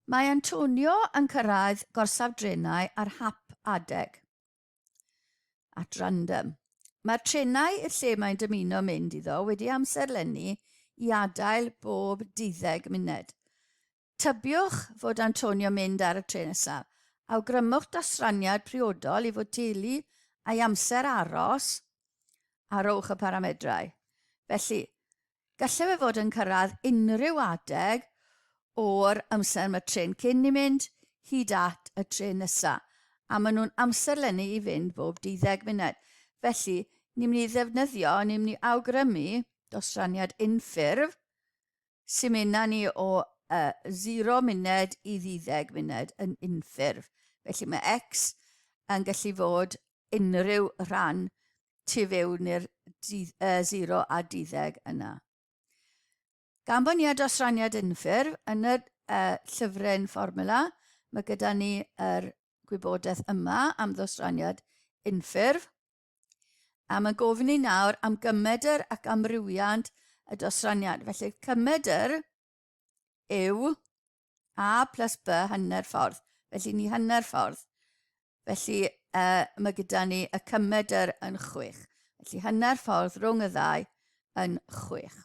Mae Antonio yn cyrraedd gorsaf drenau ar hap adeg. At random. Mae'r trenau i'r lle mae'n dymuno mynd iddo wedi amserlennu i adael bob deuddeg munud. Tybiwch fod Antonio'n mynd ar y trên nesaf. Awgrymwch dosraniad priodol i fotelu a'i amser aros a rhowch y paramedrau. Felly, gallai fe fod yn cyrraedd unrhyw adeg o'r amser mae trên cyn i mynd hyd at y trên nesaf, a maen nhw'n amserlennu i fynd bob deuddeg munud. Felly, ni'n mynd i ddefnyddio, ni'n mynd i awgrymu dosraniad unffurf, Symudna ni o y 0 munud i ddeuddeg munud yn unffurf, felly mae x yn gallu fod unrhyw rhan tu fewn i'r 0 a deuddeg yna. Gan bod ni â dosraniad unffurf yn y llyfryn fformwla, mae gyda ni yr gwybodaeth yma am ddosraniad unffurf. Am y gofyn i nawr am gymedr ac amrywiant y dosraniad. Felly cymedr yw a plus b hanner ffordd. Felly ni hanner ffordd. Felly uh, mae gyda ni y cymedr yn chwech. Felly hanner ffordd rhwng y ddau yn chwech.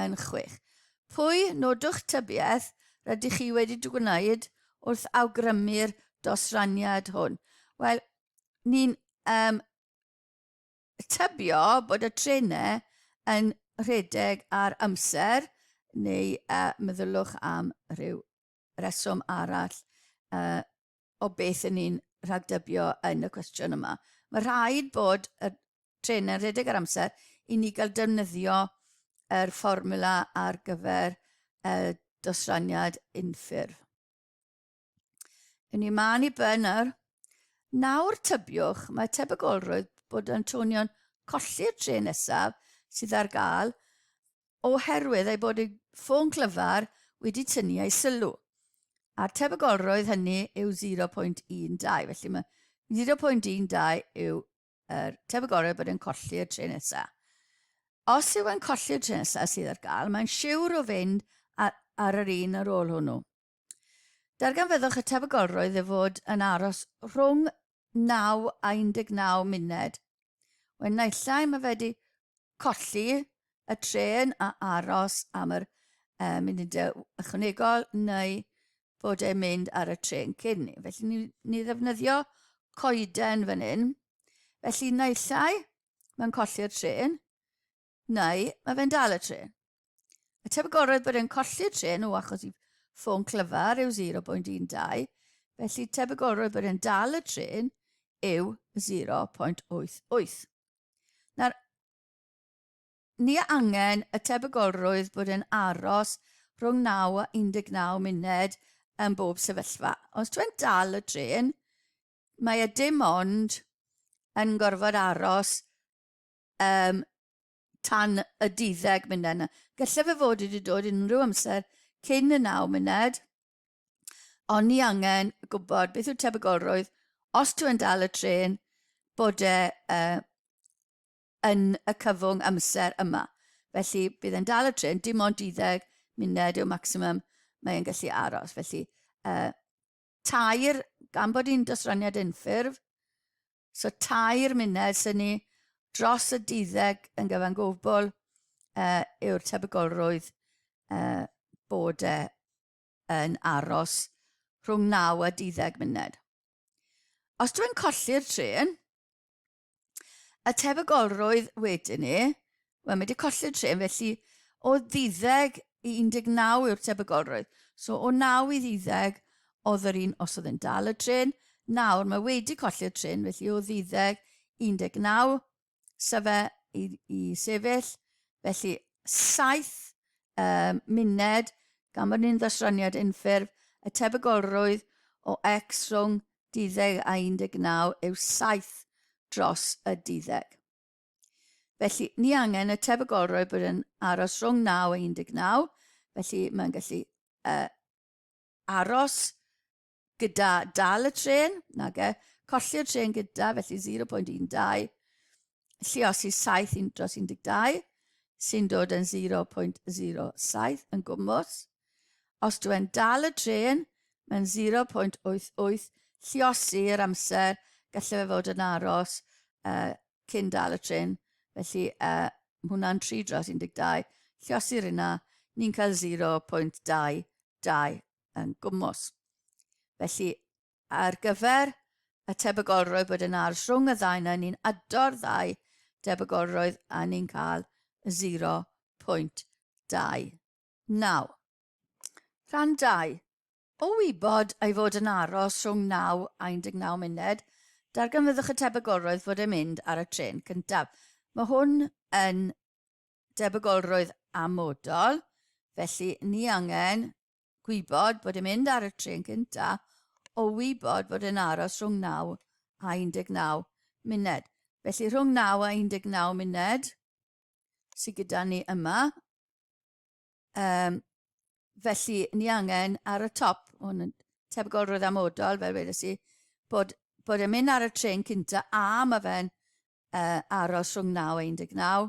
yn chwech. Pwy nodwch tybiaeth rydych chi wedi dy gwneud wrth awgrymu'r dosraniad hwn? Wel, ni'n um, tybio bod y trenau yn rhedeg ar amser neu uh, meddylwch am rhyw reswm arall uh, o beth yn ni'n rhagdybio yn y cwestiwn yma. Mae rhaid bod y trên yn rhedeg ar amser i ni gael defnyddio yr fformula ar gyfer y dosraniad unffurf. Yn ni maen i ben nawr. Nawr tybiwch, mae tebygolrwydd bod Antonion colli'r trên nesaf sydd ar gael oherwydd ei bod ei ffôn clyfar wedi tynnu ei sylw. A'r tebygolrwydd hynny yw 0.12, felly mae 0.12 yw er, tebyg orau bod e'n colli'r tren nesa. Os yw e'n colli'r tren nesa sydd ar gael, mae'n siwr o fynd ar, ar yr un ar ôl hwnnw. Darganfyddwch y tebygolrwydd e fod yn aros rhwng 9 a 19 munud. Wen naillai mae wedi colli y tren a aros am yr e, munudau ychwanegol neu bod e'n mynd ar y trên cyn ni. Felly ni, ni ddefnyddio coeden fan hyn. Felly naill ai mae'n colli'r tren, neu mae fe'n dal y tren. Y tebygolrwydd bod e'n colli'r tren o achos i ffôn clyfar yw 0.12, felly tebygolrwydd bod e'n dal y tren yw 0.88. Nawr, Ni a angen y tebygolrwydd bod yn aros rhwng 9 a 19 munud ym bob sefyllfa. Os ti'n dal y trên, mae e dim ond yn gorfod aros um, tan y duddeg munud yna. Gallai fe fod wedi dod unrhyw amser cyn y 9 munud, ond ni angen gwybod beth yw tebygolrwydd os ti'n dal y trên bod e uh, yn y cyfwng amser yma. Felly, bydd e'n dal y trên, dim ond 12 munud yw maximum mae e'n gallu aros. Felly, uh, tair, gan bod hi'n dosraniad unffurf, so tair munud sy'n ni dros y 12 yn gyfan gwbl uh, yw'r tebygolrwydd uh, bod e yn aros rhwng 9 a 12 munud. Os dwi'n colli'r tren, y tebygolrwydd wedyn ni, wel mae wedi colli'r trên felly o ddiddeg i 19 yw'r tebygolrwydd. So o 9 i ddiddeg oedd yr un os oedd yn dal y tren, nawr mae wedi colli'r tren felly o ddiddeg 19 syfe i, i sefyll, felly 7 um, muned gan bod ni'n ddosraniad unffurf y tebygolrwydd o x rhwng Duddeg a 19 yw saith dros y duddeg. Felly, ni angen y tebygolrwydd bod yn aros rhwng 9 a 19, felly mae'n gallu uh, aros gyda dal y tren, nage, colli'r tren gyda, felly 0.12, lliosi 7 un dros 12 sy'n dod yn 0.07 yn gwmwys. Os dwi yn dal y trên, mae'n 0.88 lliosi yr amser gallai fe fod yn aros uh, cyn dal y tren. Felly uh, mae hwnna'n 3 dros 12. Lliosir yna, ni'n cael 0.22 yn gwmwys. Felly Ar gyfer y tebygolrwydd bod yn ardd rhwng y ddau yna, ni'n ado'r ddau debygolrwydd a ni'n cael 0.29. Rhan 2. O wybod ei fod yn aros rhwng 9 a 19 munud, darganfyddwch y tebygolrwydd fod e'n mynd ar y trên cyntaf. Mae hwn yn debygolrwydd amodol, felly ni angen Gwybod bod yn mynd ar y trên cynta o wybod bod yn aros rhwng 9 a 19 muned. Felly rhwng 9 a 19 muned sydd gyda ni yma. Um, felly ni angen ar y top, hwn yn tebygol roedd amodol, fel wedes i, bod, bod yn mynd ar y tren cynta a mae fe'n uh, aros rhwng 9 a 19.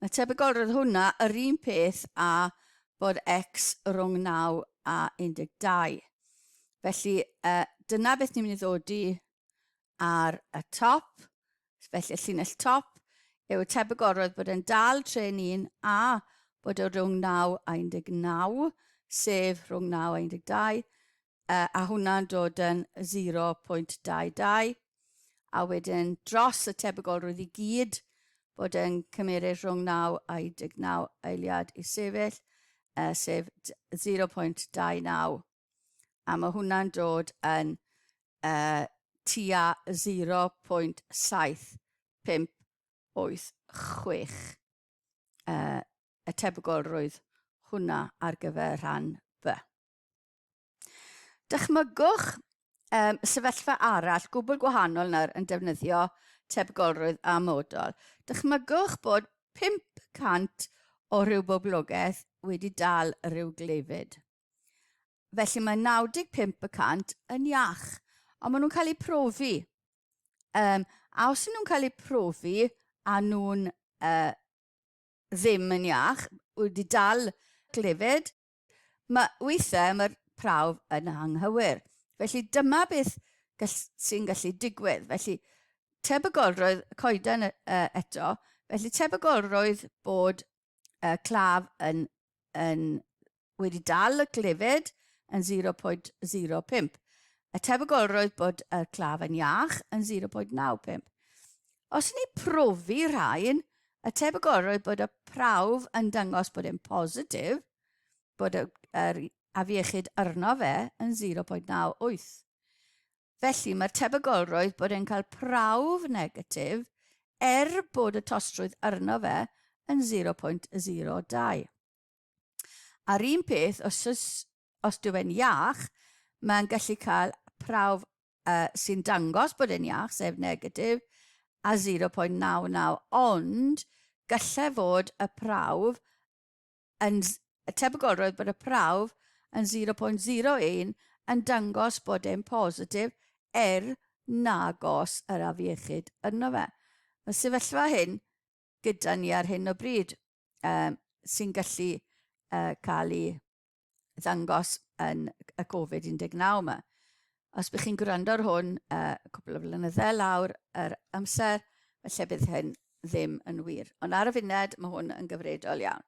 Mae tebygol roedd hwnna yr un peth a bod X rhwng 9 a 12. Felly, uh, dyna beth ni'n mynd i ddod i ar y top, felly y llinell top, yw tebygol roedd bod e'n dal tren un a bod o rhwng 9 a 19, sef rhwng 9 a 12, uh, a hwnna'n dod yn 0.22, a wedyn dros y tebygolrwydd i gyd, bod yn cymeryd rhwng 9 a 19 eiliad i sefyll, uh, sef 0.29. A mae hwnna'n dod yn uh, tua 0.7586 uh, y tebygolrwydd hwnna ar gyfer rhan B. Dychmygwch um, sefyllfa arall gwbl gwahanol nawr yn defnyddio tebygolrwydd a modol. Dychmygwch bod 500 o rhyw boblogaeth wedi dal rhyw gleifyd. Felly mae 95 y cant yn iach, ond maen nhw'n cael eu profi. Um, a os nhw'n cael eu profi a nhw'n uh, ddim yn iach, wedi dal glefyd, Mae weithiau mae'r prawf yn anghywir. Felly dyma beth gall, sy'n gallu digwydd. Felly tebygolrwydd y coeden uh, eto, felly tebygolrwydd bod uh, claf yn, yn wedi dal y glefyd yn 0.05. Y tebygolrwydd bod y claf yn iach yn 0.95. Os yn ei profi rhain, y tebygol roedd bod y prawf yn dangos bod e'n positif, bod yr afiechyd arno fe yn 0.98. Felly, mae'r tebygol roedd bod e'n cael prawf negatif er bod y tostrwydd arno fe yn 0.02. A'r un peth, os oes, os dyw e'n iach, mae'n gallu cael prawf uh, sy'n dangos bod e'n iach, sef negatif, a 0.99, ond gallai fod y prawf yn y tebygolrwydd bod y prawf yn 0.01 yn dangos bod e'n positif er nagos yr afiechyd yno fe. Y sefyllfa hyn, gyda ni ar hyn o bryd um, sy'n gallu uh, cael ei ddangos yn y Covid-19 yma. Os bych chi'n gwrando ar hwn uh, cwbl o flynyddau lawr yr amser, felly bydd hyn ddim yn wir. Ond ar y funed, mae hwn yn gyfredol iawn.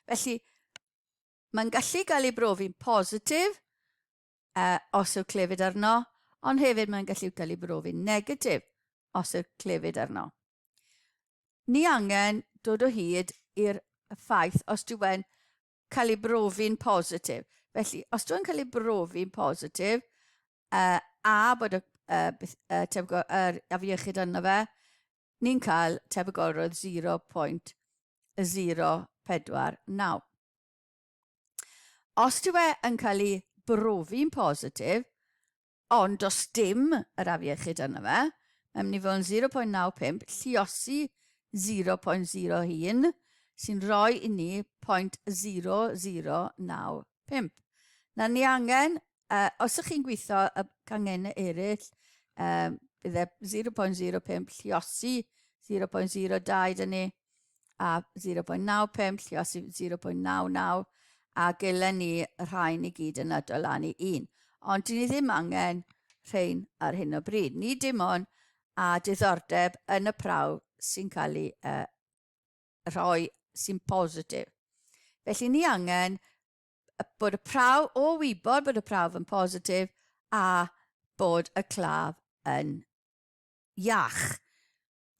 Felly, mae'n gallu cael ei brofi'n positif, os yw'r clefyd arno, ond hefyd mae'n gallu cael ei brofi'n negatif os yw'r clefyd arno. Ni angen dod o hyd i'r ffaith os dyw e'n cael ei brofi'n positif. Felly, os dyw e'n cael ei brofi'n positif, uh, a bod y, uh, beth, uh, tebygol, er, afiechyd arno fe, ni'n cael tebygolrwydd 0.049. Os dyw e yn cael ei brofi'n positif, ond os dim yr afiechyd arno fe, mae'n mynd i fod yn 0.95, lluosi 0.01, sy'n rhoi i ni 0.0095. Nawr ni angen Uh, os ych chi'n gweithio y cangen eraill, um, bydde 0.05 lliosi 0.02 dyn ni, a 0.95 lliosi 0.99, a gelen ni rhain i gyd yn adolynu un. Ond dyn ni ddim angen rhain ar hyn o bryd. Ni dim ond a diddordeb yn y prawf sy'n cael ei uh, rhoi sy'n positif. Felly ni angen bod y prawf, o wybod bod y prawf yn positif a bod y claf yn iach.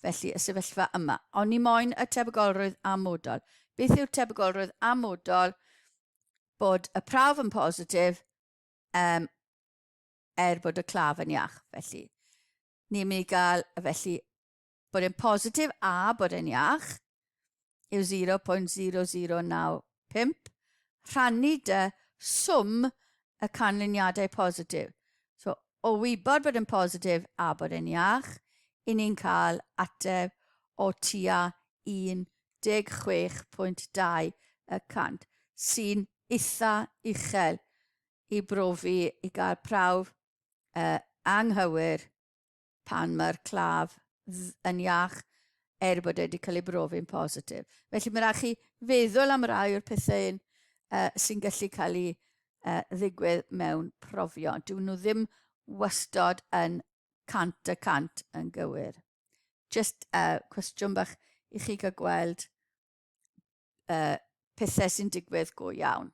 Felly, y sefyllfa yma. Ond ni moyn y tebygolrwydd amodol. Beth yw'r tebygolrwydd amodol bod y prawf yn positif um, er bod y claf yn iach. Felly, ni'n mynd i gael felly bod e'n positif a bod e'n iach yw 0.0095 rhannu dy swm y canlyniadau positif. So, o wybod bod yn positif a bod yn iach, i ni'n cael ateb o tua 16.2 y cant, sy'n eitha uchel i brofi i gael prawf uh, anghywir pan mae'r claf yn iach er bod e wedi cael ei brofi'n positif. Felly mae'n rhaid chi feddwl am rai o'r pethau un uh, sy'n gallu cael ei uh, ddigwydd mewn profio. Dwi nhw ddim wastod yn cant y cant yn gywir. Just uh, cwestiwn bach i chi gael gweld uh, pethau sy'n digwydd go iawn.